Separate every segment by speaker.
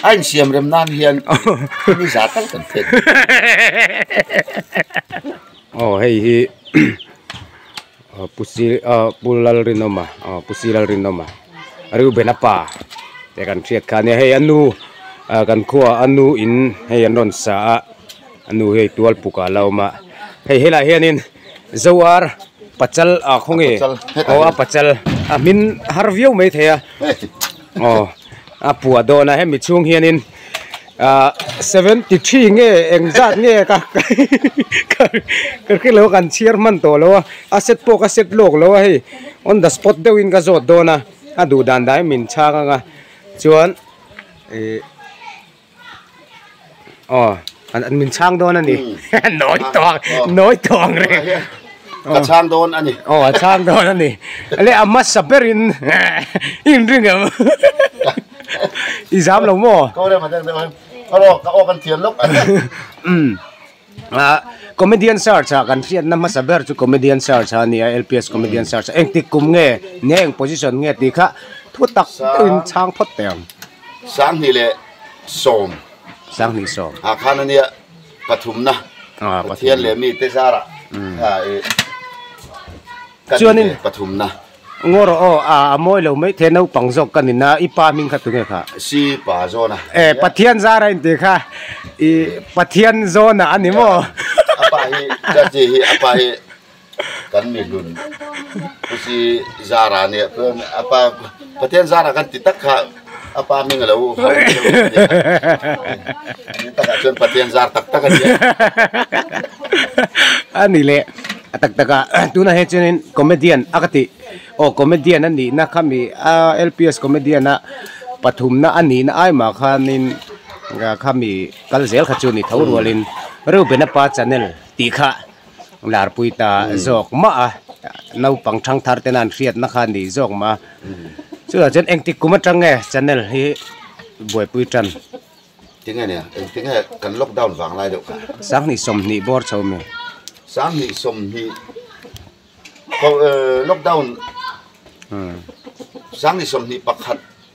Speaker 1: A insiam rem nan hian mi za tak kan phet mai.
Speaker 2: Aw hei hi Pusi a Pu Lalrinawma aw Pusi Lalrinawma Riubena pa te kan hriat kha a nia. Hei a nu kan khuaa a nu in hei an rawn sa a, a nu hi hei Tualpuk ah a la awm a. Hei helaiah hianin Zoar Pachal ah khawnge aw a Pachal a hmin har viau mai thei a. aw a puah dawn a hemi chhung hianin ahh seventy three nge eng zat nge ka ka hre lo kan chhiar hman tawh lo a a set pawh ka set lawk lo a hei on the spot deuh in ka zawt dawn a a duh dan dahin min chhang ang a chuan ihh-- Aw, an an min chhang dawn a ni. Nawi tawng, nawi tawng reng. Ka chhang
Speaker 1: dawn a ni. Aw, a chhang dawn a ni.
Speaker 2: Le a hmasa berin in ring em? I zam lo maw? Kawrema deuh deuh
Speaker 1: em? Ka awk, ka awk an thiam lawk. Ahh
Speaker 2: comedian sir cha kan hriatna hmasa ber chu comedian sir cha ania lps comedian sir cha engtik kum nge ni a eng position nge tih kha thu tak deuhin chhang phawt teh ang. Sanghnih
Speaker 1: leh sawm. Sanghnih sawm. Ah khan ania pathumna Pathian leh mite zara
Speaker 2: ah i kan inbel pathumna.
Speaker 1: Ngawr aw aw, a
Speaker 2: a mawi lo maithei naupang zawk ka ni na, i pa hming kha tu nge kha? Si pa John-a.
Speaker 1: E, Pathian zar a
Speaker 2: intih kha i Pathian John-a a ni maw? A pa hi
Speaker 1: Judge hi a pa hi kan mihlun khusi zar a nia, chuan a pa Pathian zar a kan ti tak kha. A pa hming a lo hau mai deuh mai a ni a, takah chuan Pathian zar tak tak a ni
Speaker 2: a. A ni le, a tak tak a, tunah hian chuan in comedian a ka tih, aw comedian a nihna khami a LPS comedian a pathumna a nihna ai mah khanin khami kal zel kha chu a ni tho rualin Reuben-a pa Chanel tih kha, Larpui ta zawk mah a, naupang thangthar tena an hriatna kha a ni zawk mah a. Chutah chuan engtik kum atang nge channel hi Buaipui tan? Tinge
Speaker 1: nia, engtik nge kan lockdown vang lai deuh kha? Sanghnih sawmhnih
Speaker 2: bawr chho mi. Sanghnih
Speaker 1: sawmhnih lockdown sanghnih sawmhnih pakhat.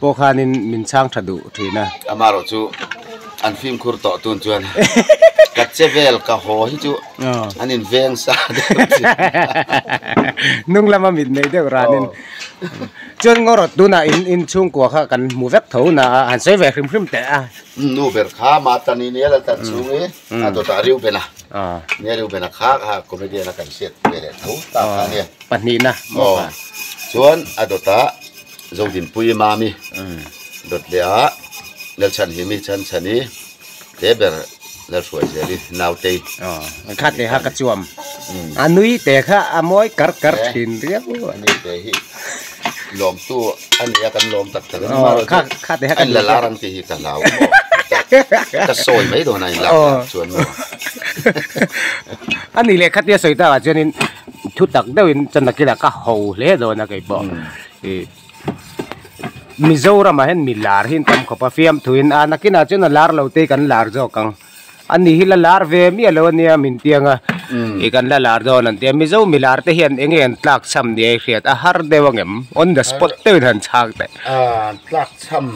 Speaker 2: Pawh khanin min chhang tha duh thin a. Amarawh chu
Speaker 1: an fimkhur tawh tun chuan ka che vel ka haw hi chu an in veng sa deuh thin. Hnung
Speaker 2: lama mit nei deuh ranin. Chuan ngaw rawt tunah in chhungkua kha kan hmu vek tho na a han sawi ve hrim hrim teh a. Nu ber kha
Speaker 1: mah ta ni nia la tat chhung hi. a dawt ah reuben a ni a reuben a khak a comedian a kan hriat ve leh tho ta kha ania pahnih na aw
Speaker 2: chuan
Speaker 1: a dawt ah zodinpui i mami dawt leh ah nelchhan hi mi chhan chhan i te ber nelhruai zel i naute an khat leh a
Speaker 2: ka chuam a nui te kha a mawi kar kar thin riau a nui te hi
Speaker 1: lawmtu a nia kan lawm tak theloh ni mairewh chu a inla
Speaker 2: lar ang tihhi ka hlau
Speaker 1: maw ka sawi mai dawn a in lak dan chuan
Speaker 2: maw a ni leh khatia sawi takah chuanin thu tak deuhin chanakila ka ho hle dawn a keipawh i Mizoramah hian mi lar hi an tam khawp a fiamthuin a nakinah chuan a lar lo te kan lar zawk ang. An nih hi la lar ve miah lo ania min tiang a, i kan la lar dawn an ti a, Mizo milar te hian eng nge an tlak chham nia i hriat a har deuh ang em? On the spot deuhin han chhak teh. An tlak
Speaker 1: chham,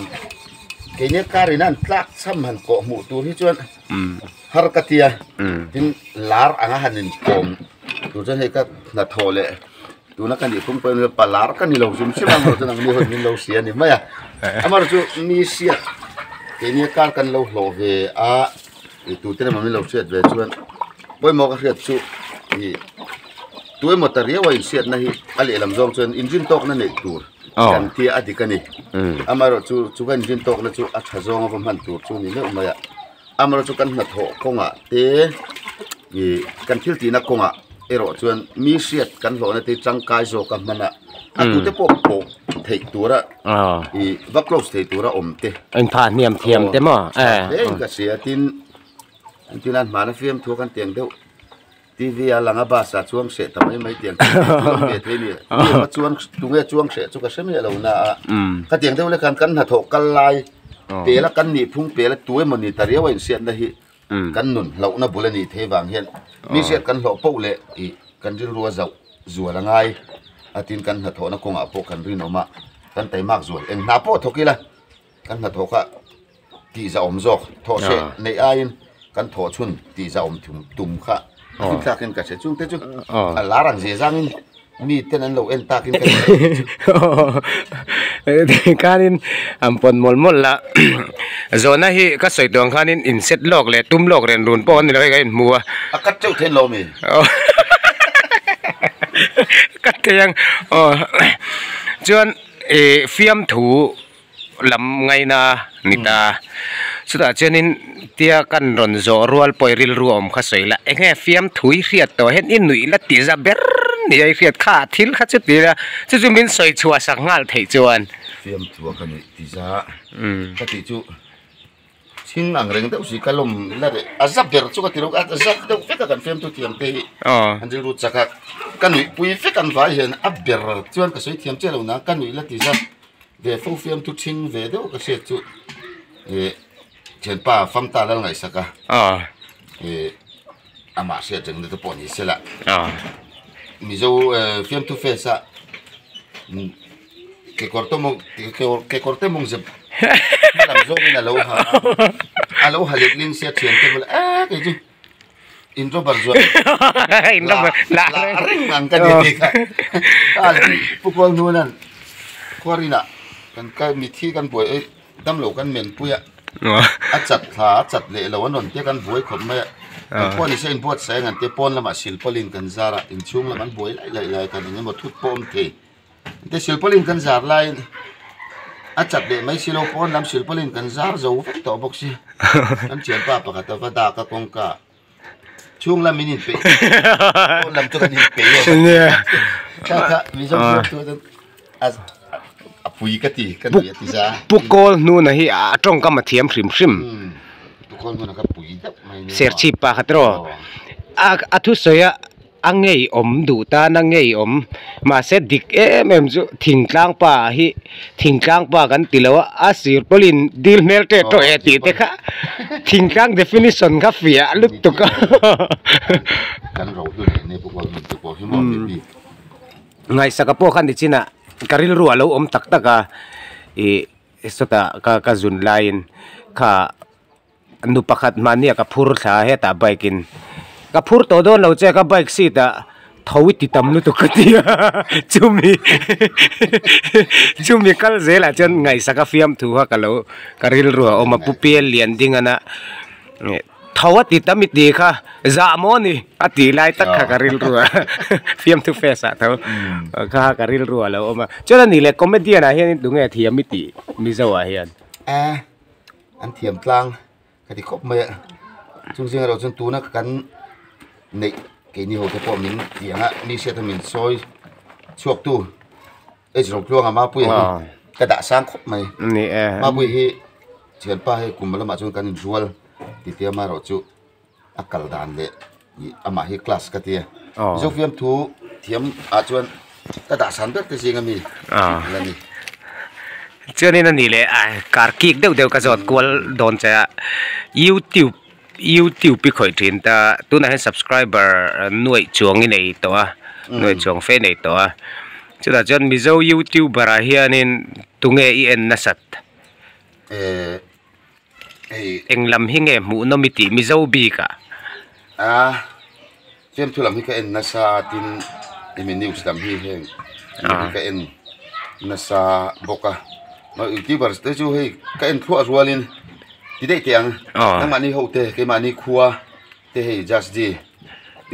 Speaker 1: keini kar in a an tlak chham han kawh hmuh tur hi chuan har ka ti a, tin lar anga han in pawm tur chuan hei ka hnathawh leh. Tuna ka nih phung pawh em le pa lar ka ni lo zim zim ang emaw chuan ang ni hawi min lo si a ni mai a, amaherawhchu nisiat keini a kar kan lo hlawh ve a ih tute lamah min lo chhiat ve chuan pawimawh ka hriat chu ih tu emaw ta riau a insiatna hi a lehlam zawng chuan engine tawkna neih tur kan tia a dik a ni amaherawhchu chu ka engine tawkna chu a tha zawnga va hman tur chu ni meuh mai a. Amarawh chu kan hnathawh kawngah te ih kan thil tihna kawngah erawh chuan mi hriat kan hlawh nate tangkai zawka hmana a tute pawh pawh theih tura ih va close theih tura awm te tlangval
Speaker 2: hle
Speaker 1: in ka hria tin an tihna an hmana fiamthu a kan
Speaker 2: tiang
Speaker 1: deuh. TV a lang a bus ah chuang hreh ta mai mai tiang chu chuang ve thei nia mi kha chuan tunge chuang hreh chu ka hre miah lo na a khatiang deuh leh khan kan hnathawh kal lai pel a kan nih phung pel a tu emawni ni ta riau a insiat na hi kan nun hloh na bul a nih theih vang hian nihriat kan hlawh poh leh ih kan rilrua zauh zual a ngai a tin kan hnathawh na kawng ah pawh kan rinawm a kan taimak zual eng hna pawh thawk ila Kan hnathawh kha tih zahawm zawk thawh se neih aiin kan thawh chhun tih zahawm tum kha zing thlakin ka hre chungte chu a lar ang zia zangin mi ten an lo en takin ka hre
Speaker 2: thung teh chu tih khanin an pawn mawlh mawlh la zawhna hi ka sawi tuang khanin in set lawk leh tum lawk rian run pawh a ni lo hei ka inhmu a a cut teuh theih an lo
Speaker 1: mi
Speaker 2: cut theih ang aw chuan fiamthu. lam ngaina mit a chutah chuanin tia kan rawn zawh rual pawh rilru a awm kha sawi la eng nge fiamthui hriat tawh hian i nuih la tih za ber ni a i hriat kha a thil kha chuti ila chu chu min sawi chhuah sak nghal theih chuan fiamthu a ka
Speaker 1: nuih tih za ka tih chu. Thing ang reng deuh si ka lawm la reh a za ber chu ka ti lo a za deuh vek a kan fiamthu thiam te hi an rilru chak a ka nuihpui vek ang vai hian a ber chuan ka sawi thiam chiah lo nang ka nuih la ti za ve fo fiamthu thin ve deuh ka hriat chu ih thianpa fam ta lal ngaisak a ih amah hriat reng na te pawh ni sela mizo fiamthu face a. kekawr tawmawm kekawr kekawr te mawng zep hma lam zawng in a lo ha a a lo ha let leh sia thian te awmlo eehh kei chu in robber zawh
Speaker 2: lah a
Speaker 1: reng ang ka nia hei kha pu Khualnuaina khuarin ah kan kal mithi kan buai eih damlo kan men pui a a chat thla a chat leh lo a nawn te kan buai khawp mai a kan pawh ni se in buatsaih ang an tih a pawn lamah silpaulin kan zar a inchhung lam an buai laih laih lai a kan engemaw thut pawh a awm thei. heti silpaulin kan zar laiin a chap leh mai silo pawn lam silpaulin kan zar zo vek tawh bawk si kan thianpa pakhat a va dak a kawngka chhung lam in inpeih pawn lam chu kan inpeih a chhuata mizo zawk chu chu a a pui ka ti ka nuih a ti za puk kawl hnun ah hi
Speaker 2: a tawngkam a thiam hrim hrim puk
Speaker 1: kawl hnun ah ka pui deuh mai serchhip pakhat erawh
Speaker 2: a a thusawi a A ngeiawm duh tan a ngeiawm mahse dik em em chu thingtlang pa hi thingtlang pa kan ti lo a a sirpawlin dil hmel teh tawh e tih te kha thingtlang definition kha fiah lutuk a
Speaker 1: kan ro hlu leh nepu pawh hmun te pawh hi maw ni tih
Speaker 2: ngaihsaka pawh kha ni chin a ka rilru a lo awm tak tak a ih sawtah ka ka zun laiin kha. nu pakhat mahnia ka phur thla a hetah bike in ka phur tawh dawn lo che ka bike seat ah tho i ti tam lutuk ka ti a chumi chumi kal zel ah chuan ngaihsak a fiam thu kha ka lo ka rilru a awm a pu pian lian ding ana tho a ti tam i ti kha zah maw ni a ti lai tak kha ka rilru a fiam thu face ah tho kha a ka rilru a lo awm a chuan a nih leh comedian ah hian in tunge thiam i tih mizo ah hian.
Speaker 1: An thiam tlang ka ti khawp mai a, chung zing erawh chuan tuna kan neih kei ni ho te pawh min ti ang a, mi hriat hian min sawi chhuak tu H Rawngtluanga Mapui hi ka dahsang khawp mai, Mapui hi thianpa hei kum lamah chuan kan inrual titiang amaherawhchu, a kal dan leh ih amah hi class ka tia zofiam thu thiam ah chuan ka dahsan ber te zing a mi la ni
Speaker 2: chuanin a ni leh a kar kik deuh deuh ka zawt kual dawn che a youtube youtube i khawih thin ta tunah hian subscriber nuaih chuang i nei tawh a nuaih chuang fe nei tawh a chutah chuan mizo youtuber ah hianin tunge i en nasat ehh. eng lam hi nge hmuh nawm i tih mizo bik ah ah
Speaker 1: chem thu lam hi ka en nasa a tin hemi news lam hi heng ah ka en nasa bawk a aw youtuber te chu hei ka en thluah rual in ti daih teh ang ah nangmahni ho te keimahni khua te hei jasji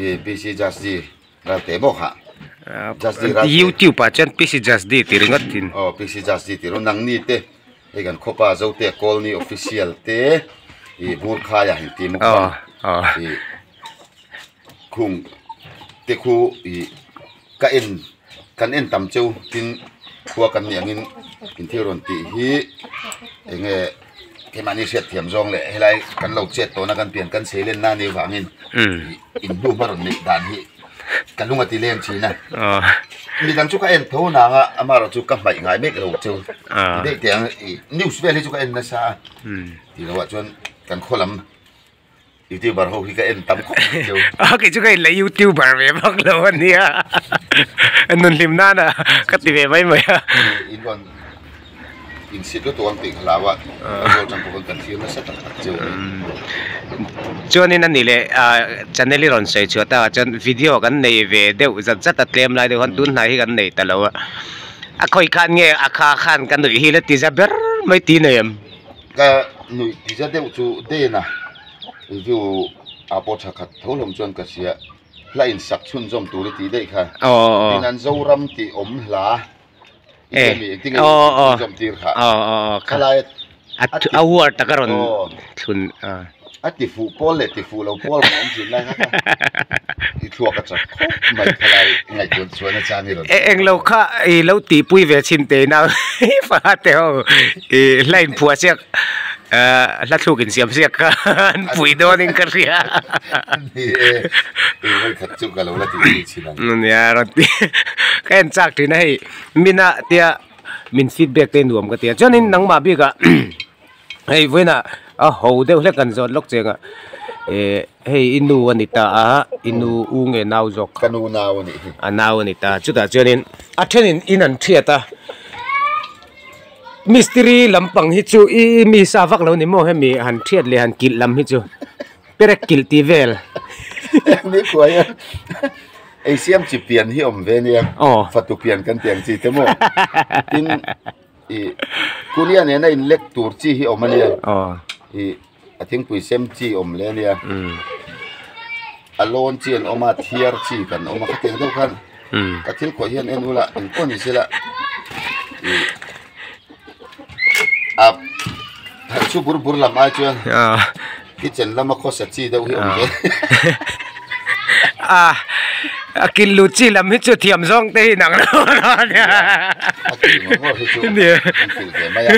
Speaker 1: ih ppc jasji. Rante bawk ha jasdi rante
Speaker 2: youtube ah chuan pisi jasdi tih ringawt thin aw pisi jasdi tih rawh
Speaker 1: nang ni te hei kan khawpa zote colony official te ih bur khai ah engtin muh tur ih khung te khu ih ka en kan en tam cheu tin khua kan nih angin in thil rawn tih hi eng nge. keimahni hriatthiam zawng leh helai kan lo chet tawhna kan pian kan seilen na nih vangin in bu hma rawn neih dan hi ka lung a ti lem thin a mi dang chu ka en tho nang a ama erawh chu ka hmaih ngai mek lo cheu news vel hi chu ka en nasa a ti lo ah chuan kan khaw lam. Youtuber ho hi ka en tam khawp mai chu. A kei chu ka inla
Speaker 2: Youtuber ve bak lo a nia. A nun hlim nana ka ti ve mai mai a. I in rawn in sit lutuk ang tih ka hlau a.
Speaker 1: Zawh chang pawh ka kan fir nasa tak tak chu.
Speaker 2: Chuanin ani leh channel i rawn sawi chhuat a chuan video kan nei ve deuh zat zat a tlem lai deuh han tunhnai hi kan nei ta lo a. A khawi khan nge a kha khan ka nuih hi la ti za ber mai ti nei em. Ka nuih
Speaker 1: tisa deuh chu Dena review a pawh tha khat tho hlawm chuan ka hria, hla insak chhunzawm tur i tih daih kha, tin an Zoram tih awm hla i nge mi engtin nge i chhunzawm tir
Speaker 2: kha, khalaia a thlun. A
Speaker 1: tifuh pawl leh tifuh lo pawl kha an zir lai hak a i thluak a chak khawp mai khalai ngaihtuan chuan achang i rawn e eng lo kha i
Speaker 2: lo tihpui ve chhin teh ina i fahla te ho i hla in phuah chiak a hla thluk in siam ziak kha an pui dawn in ka hria ni e eng mai khat chu
Speaker 1: ka lo la tihpui chhin ang a nia a rawn ti
Speaker 2: ka en chak thin a hei mina tia min feedback te nuam ka tia chuan in nangmah bik ah hei vawina a ho deuh hlek an zawt lawk chengah eh hei i nu a ni ta a i nu u nge nau zawk kha
Speaker 1: a nau a ni ta chutah
Speaker 2: chuanin a thenin in an chhiat a mistiri lampang hi chu i mi sa vak lo ni maw hemi han chhiat leh han kilh lam hi chu perek kilh tih vel engmeh
Speaker 1: kuai a ei siam chi pian hi awm ve nia aw fatu pian kan tih ang chi te maw tin. ih kuria nen a inlek tur chi hi awm a nia ih a thingpui sem chi awm leh a nia a lawn chi an awm a thiar chi kan awm a khatiang deuh khan ka thil kawi hian en ula eng pawh a ni sela ih a chu bur bur lam ai chuan. Kitchen lama khawsa chi deuh hi awm teh. Ah
Speaker 2: a kil lut chi lam hi chu thiam zawng te hi inang lo lo a nia. A kil ngawt ngawt hi chu kan kil ve mai a.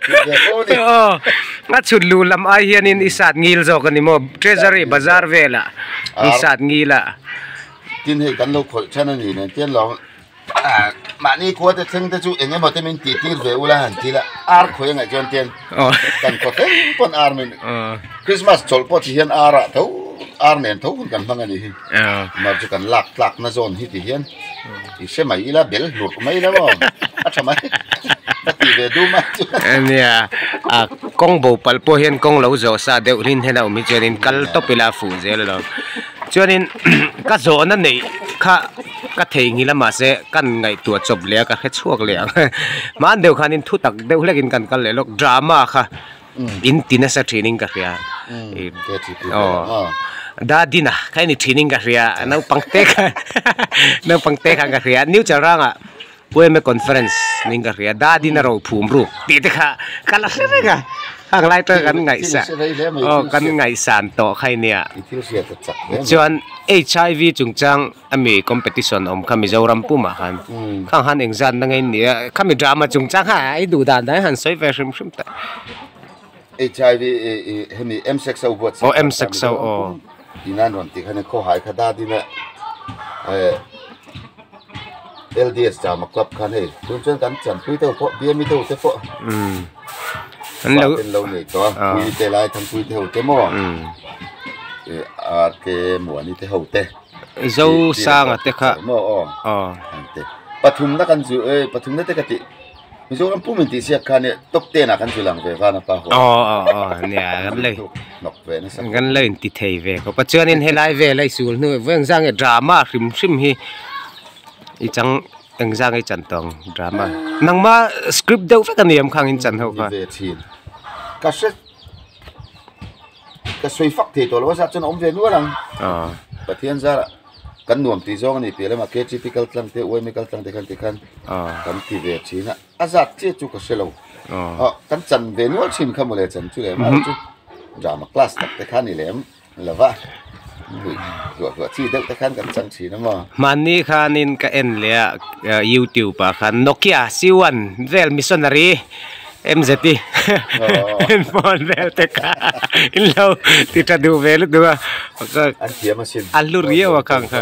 Speaker 2: Kil ve pawh a ni. Aw a chhut luh lam ai hianin i sat ngil zawk a ni maw? Treasury bazar velah i sat ngil a. Tin hei
Speaker 1: kan lo khawih than a ni nen tial lo. mahni khua te thleng te chu eng emaw te min tih tir ve ula han thil a ar khawih a ngaih chuan ten kan khaw thleng pawn ar mai ni krismas chawlh pawh chi hian ar ah tho ar nen tho hun kan hmang a ni hi amah chu kan lak tlak na zawn hi ti hian i hre mai ila bel hlurh mai lo aw a tha mai ka ti ve dum a nia
Speaker 2: kawng bo palh pawh hian kawng lo zawh sa deuh hlin hian a awm hi chuan in kal tawp ila fuh zel a lo chuan in ka zawh na neih kha Ka theihnghilh a mahse kan ngaihtuah chawp leh a ka hre chhuak leh ang hmaan deuh khan in thu tak deuh hlek in kan kal leh lawk drama kha in ti nasa thin in ka hria aw dadina kha i ni thin in ka hria naupang te khan naupang te khan ka hria new chalranga Pueme conference ning ka hria dadin a rawn phum ruk tih te kha ka la hre reng a hang lai taka kan ngaihsa aw kan ngaihsan tawh kha i nia chuan HIV chungchang ami competition awm kha Mizoram pumah khan khang han engzat na ngei nia khami drama chungchang kha i duh dan dan i han sawi ve hrim hrim ta.
Speaker 1: HIV hemi M sex ho buat oh M sex ho
Speaker 2: oh inan
Speaker 1: ron ti khane kho hai kha da din a LDS ta ma club khan hei tun chen kan chan pui teu pho bia mi teu te pho um
Speaker 2: an lo ten lo nei
Speaker 1: to pui te lai thang pui te ho te mo um e a te muani te ho te zo
Speaker 2: sang ate kha mo oh oh
Speaker 1: pathum na kan zu e pathum na te ka ti Mizoram pum in tih siak khan top ten ah kan zui lang ve vana pa ho. Oh oh oh nia
Speaker 2: kan lei. Nok ve na sak.
Speaker 1: Kan lei ti thei ve
Speaker 2: ko pa chuan in helai ve lei sul nu veng zang e drama hrim hrim hi i chang eng zang i chan tong drama. Nang ma script deuh vek aniam khang in chan ho ka. Ve thin.
Speaker 1: Ka hre ka sawi fak thei tawh lo a zat chuan a awm ve nual ang Pathian zara kan nuam tih zawng a ni piah lamah KGP kal tlang te UMA kal tlang te khan tikhan kan ti ve thin a a zat chiah chu ka hre lo kan chan ve nual thin kha maw le chan chu leh mahni chu drama class tak te kha a ni lem lo va. hmanni khanin
Speaker 2: ka en leh a youtube ah khan nokia c one vel missionary mz i en phone vel te kha in lo ti ta duh hmel a
Speaker 1: nia a hlu riau a khang kha.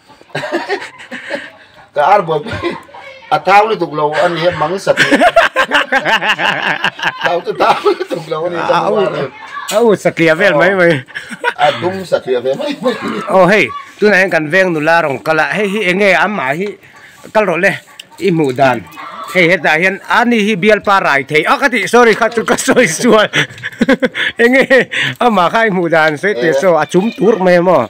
Speaker 1: ka ar buai pui a thau lutuk lo a ni a mang sati
Speaker 2: thau chu thau lutuk lo a ni ka hmu a a u satliah vel mai mai a
Speaker 1: dum satliah ve mai mai oh hei tunah hian kan veng nula rawn kal a
Speaker 2: hei hi enge amah hi kal rawh le i hmuh dan hei hetah hian a ni hi bialpa rai thei a ka ti sorry kha chu ka sawi sual enge amah kha i hmuh dan sawi teh saw a chum tur mai emaw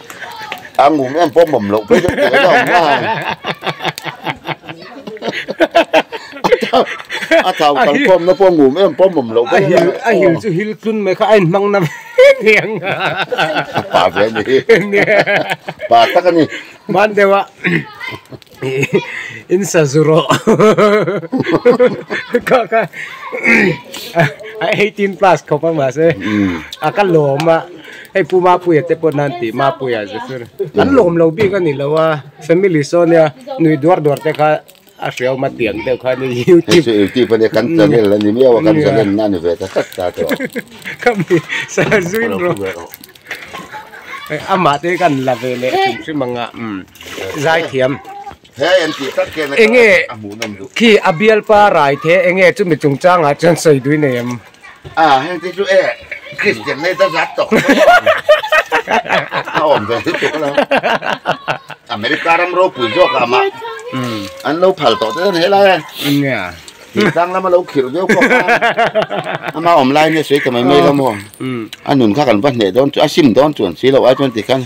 Speaker 2: a
Speaker 1: ngum em pawh mawm loh phei deuh teh a awm a a thau kan khawm na pawh ngum em pawh mawm loh phei deuh teh a awm a a hil chu hil
Speaker 2: tlun mai kha a in hmang na mai ni ang
Speaker 1: pa ve a ni hi pa tak a ni mahn deuh a.
Speaker 2: in sa zu rawh kha kha a eighteen plus khawp a mahse a ka lawm a hei pu mapuia te pawh nan tih mapuia ze chu an lawm lo bik a ni lo a family saw nia nui duar duar te kha a hriauma tiang deuh kha ni youtube hei chu youtube ania kan
Speaker 1: channel a ni miau a kan channel a ni ve ta tlat ta tawh khami
Speaker 2: sa zui rawh. amah te kan la ve leh hrim hrim ang a zai thiam enge khi a bialpa rai the enge chumi chung chang ah chuan sawiduai nei ang a heng te
Speaker 1: chu e kristian nei ta zat tawh a awm ve thil tawh ka lo america ram ropui zawk ah mah an lo phal tawh te ta ni helai a.
Speaker 2: khi tlang lama
Speaker 1: lo khirh deuh khawp a ama awm lai nge sawi ta mai mai lam aw a nun kha kan va hneh dawn chu a sim dawn chu an si lo i twenty khan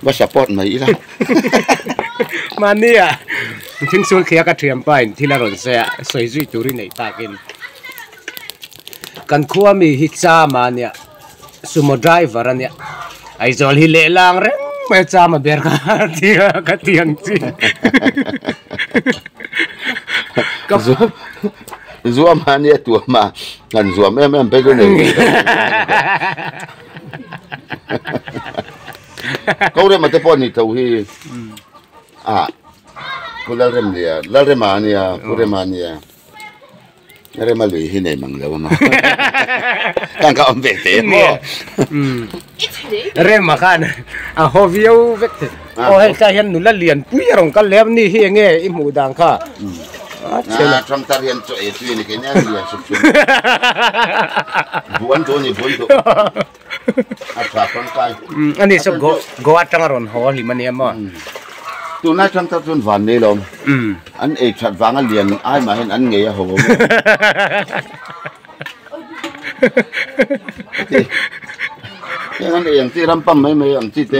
Speaker 1: va support mai ila mahnia thing sul thliak ka thiam pain thil a rawn se a
Speaker 2: sawi zui tur i neih takin kan khua mi hi chama nia Sumo driver a nia. Aizawl hi lehlang reng mai chama ber kha
Speaker 1: tia ka ti ang chi. Ka zuam a nia tuam a. Kan zuam em em phei chu nei nei ka ti ang. Ko rema te pawh ni tho hi a pu Lalrem nia, Lalrema a nia, pu rema a nia. Rema lui hi nei mang lo emaw tang ka awm ve te emaw
Speaker 2: Rema khan a haw viau vek te aw hei tlai hian nula lian pui a rawn kal leh a ni hi eng nge i hmuh dan kha a
Speaker 1: tang tar hian chaw e tui a ni kei nia lian sup sup buan duh a ni buan duh ani chu go
Speaker 2: go atanga rawn haw a hlim ania maw tuna
Speaker 1: chang tak chuan van nei lawm an ei that vang a lian ai mah hian an ngei a haw heng an ei ang chi ram pam mai mai ang chi te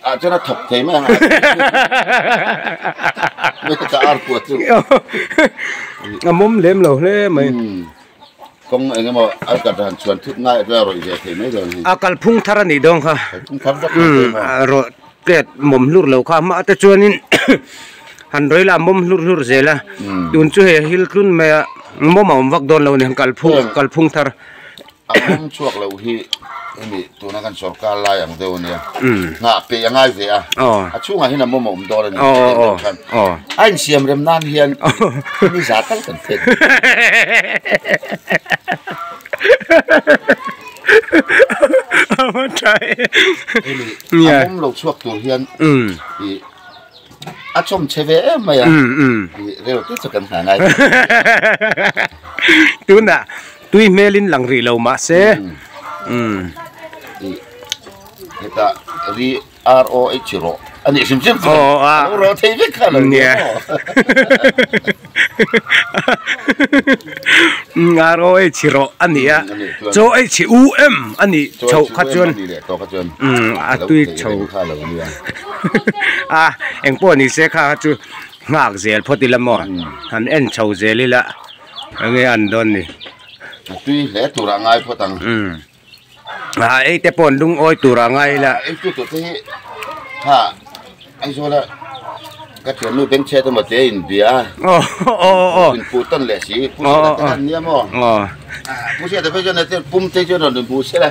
Speaker 1: Ah chuan a thawk thei mai
Speaker 2: a mawm lem lo hle mai
Speaker 1: kawng eng emaw a ka dan chuan thut ngai a rawi ve thei mai lo ni a kalphung thar a nih
Speaker 2: dawn kha kalphung thar vak mai
Speaker 1: pawh emaw a rawh
Speaker 2: tlet mawm hlur lo kha mah te chuanin han rawi la mawm hlur hlur zel a tun chu hei a hil tlun mai a mawm a awm vak dawn lo a ni kalphung kalphung thar. A mawm
Speaker 1: chhuak lo hi hemi tuna kan sorkar lai ang deuh a nia, hnah peih a ngai ve a, a chhungah hian a mawm a awm dawn a ni tih loh khan a insiam rem nan hian hemi za tak kan phet
Speaker 2: hemi a mawm lo chhuak tur hian
Speaker 1: ih a chawmchhe ve em mai a ih reuhte chu kan hna ngai
Speaker 2: thei. Tui hmelin lang rih lo mah se.
Speaker 1: Hetah ri ROH rawh a nih hrim hrim chuan a lo rawh thei vek kha lo
Speaker 2: nia aw ROH rawh a nih a chaw HUM a nih chhoh kha chuan a tui chho a engpawh ni se kha chu nghak zel phawt ila maw han en chho zel ila. Eng nge an dawn ni? A tui hle
Speaker 1: turah ngai phawt ang. Um.
Speaker 2: Aa ei te pawh an dung awi turah ngai ila. Ei chu tute hi
Speaker 1: ha Aizawla ka thiannu Bengchet emaw te a inbia. Aw aw aw. Min puh tawn leh si. Puhsela te khan nia maw? Aw. Puhsela te pawh chuan hetiang pum te hi chuan rawn inbu sela.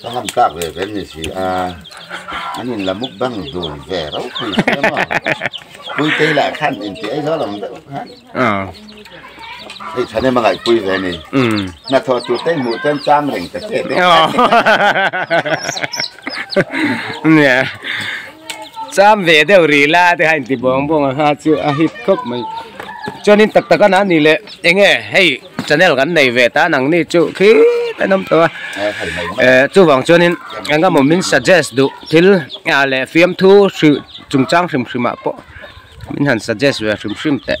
Speaker 1: Ka han tlak ve ve ni si a, an in la mukbang dun ve reuh pui si a maw, puitei lah khan in ti aizawl ang deuh khan, hei thanem a ngaihpui ve ni, hnathawh tur te hmuh chuan chang reng ta che deuh khan
Speaker 2: ni, cham ve deuh ri la te kha in ti bawng bawng ang a, chu a hit khawp mai, chuan in tak tak a na ni le eng nge hei. Channel kan nei ve tan ang ni chu khit an awm tawh a, eh chuvang chuanin engemaw min suggest duh thil leh fiamthu hri chungchang hrim hrimah pawh min han suggest ve hrim hrim teh.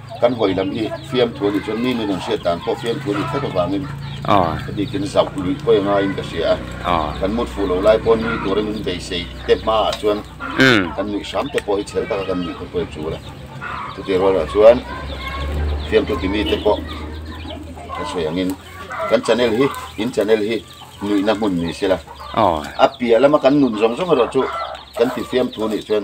Speaker 1: kan vawi lam hi fiamthu a ni chuan mi nun an hriat dan pawh fiamthu a ni thlek avangin ka bikin zauh luih pawh a ngaiin ka hria a, kan mut fuh loh lai pawh nui tura min beisei te hmaah chuan kan nuih hram te pawh hi chhel taka kan nuih khawp vel chul a, chutih rualrah chuan fiamthu ti mite pawh kan sawi angin kan channel hi in channel hi nuihna hmun ni sela a piah lama kan nun zawng zawng erawh chu kan ti fiamthu nih chuan.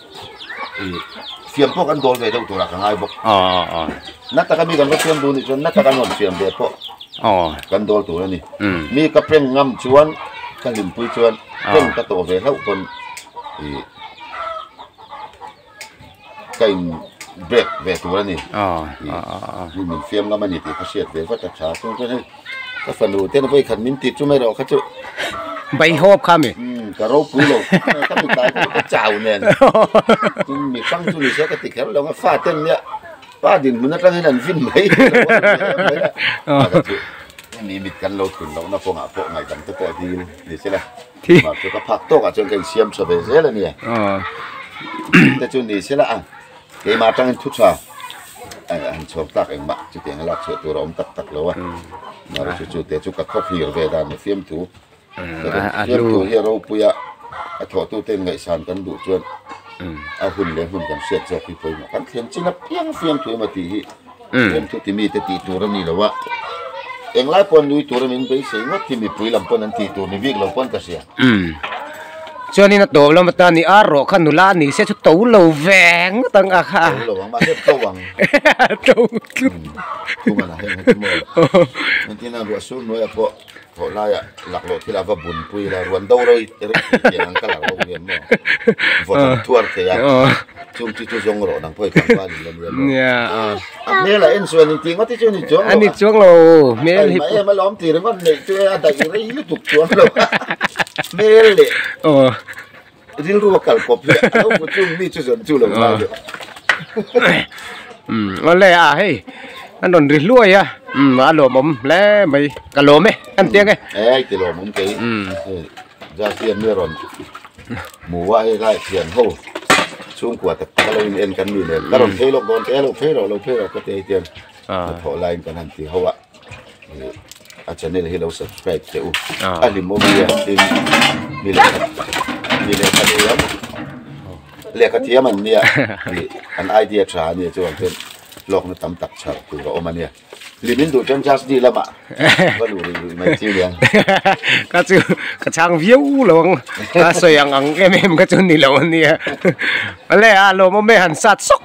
Speaker 2: fiam pawh kan dawl ve deuh tur a ka ngai bawk na taka mi kan va fiam duh nih chuan na taka nawn fiam ve pawh kan dawl tur a ni mi ka prank ngam chuan ka hlimpui chuan prank ka tawh ve hlauh pawn ih ka in break ve tur a ni min fiam ngam a ni tih ka hriat ve vat a tha chuan chuan hei. ka fanu te na vawi khat min ti chu mai rawh kha chu baihawp kha mi umm ka ropui lo ka mi tlai chu ka chau nen
Speaker 1: tin mi fang chu ni sia ka ti kher lo nga fa ten nia pa dinhmun atangin an vin mai hemi mit kan lo thlun loh na kawngah pawh ngaihdan te pawh a dil ni se la
Speaker 2: tihah chu ka phak tawkah chuan ka insiam
Speaker 1: tha ve zel a nia
Speaker 2: te chu ni se la ang. Keimah atangin thuchha han chhawm tak engmah chuti anga lakchhuah tur a awm tak tak lo a,
Speaker 1: mah rawh chu chute chu ka khawphir ve dan a fiamtu fiamtu hi a ropui a, a thawhtute ngaihsan kan duh chuan a hun leh hmun kan hriat zawk hi pawimawh kan thlen chin a piang fiamthu emaw tih hi. Eng chu ti mite tih tur a ni lo a,
Speaker 2: eng lai pawh an nui tur a min beisei ngawt hi mipui lam pawn an tih tur ni bik lo pawh an ka hria. Chuan in a tawp lam atan i ar rawh kha nula ni se chu to lo ve ngawt ang a
Speaker 1: kha. To lo ang mahse to ang. To
Speaker 2: tlu. Thunga lah hian hetimaw. Entirna ruah sur nuaih ah
Speaker 1: pawh Chawh laia laklawh thila va bun pui ila ruan do rei rei thei tih ang ka la ro hian maw vawt ang thuar thei a
Speaker 2: chung chu chu zawng rawh nang pawh hi tlangval in la nia nia a hmel ah en chu
Speaker 1: an intih ngawt hi chu a ni chuang lo a ni chuang lo
Speaker 2: hmel hi pawh em alawm tih ringawt neih chu a daih rei lutuk
Speaker 1: chuang lo hmel leh aw Rilru a kal pawp hian a lo hmu chung mi chu zawn chu lo la
Speaker 2: leh. Awle a ah hei an rawn ri hluai a a lawm awm hle mai ka lawm e a ni tiang e. Eii ti lawm awm kei hei Zakian nge rawn
Speaker 1: hmu a hei lai thian ho chhungkua tak tak a lo in en kan ni leh ka rawn phei lawk dawn teh a lo phei rawh lo phei rawh ka ti a hetiang hnathawh laiin kan han ti ho a. a channel hi lo subscribe hle u a hlim awm hi tin mi leh mi leh kha thiam lehkha thiam an nia an idea tha a nia chuan chuan lawk na tam tak chhar tur a awm a nia hlim in duh chuan just ni lama va luh rih rih mai chiu
Speaker 2: lian ka chu ka chang viau lo ang ka sawi ang ang em em ka chu ni lo a nia ale a lawm awm e han sat sawk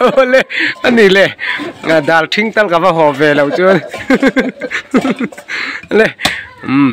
Speaker 2: awle a ni le dal thing tal ka va haw ve lo chuan le umm.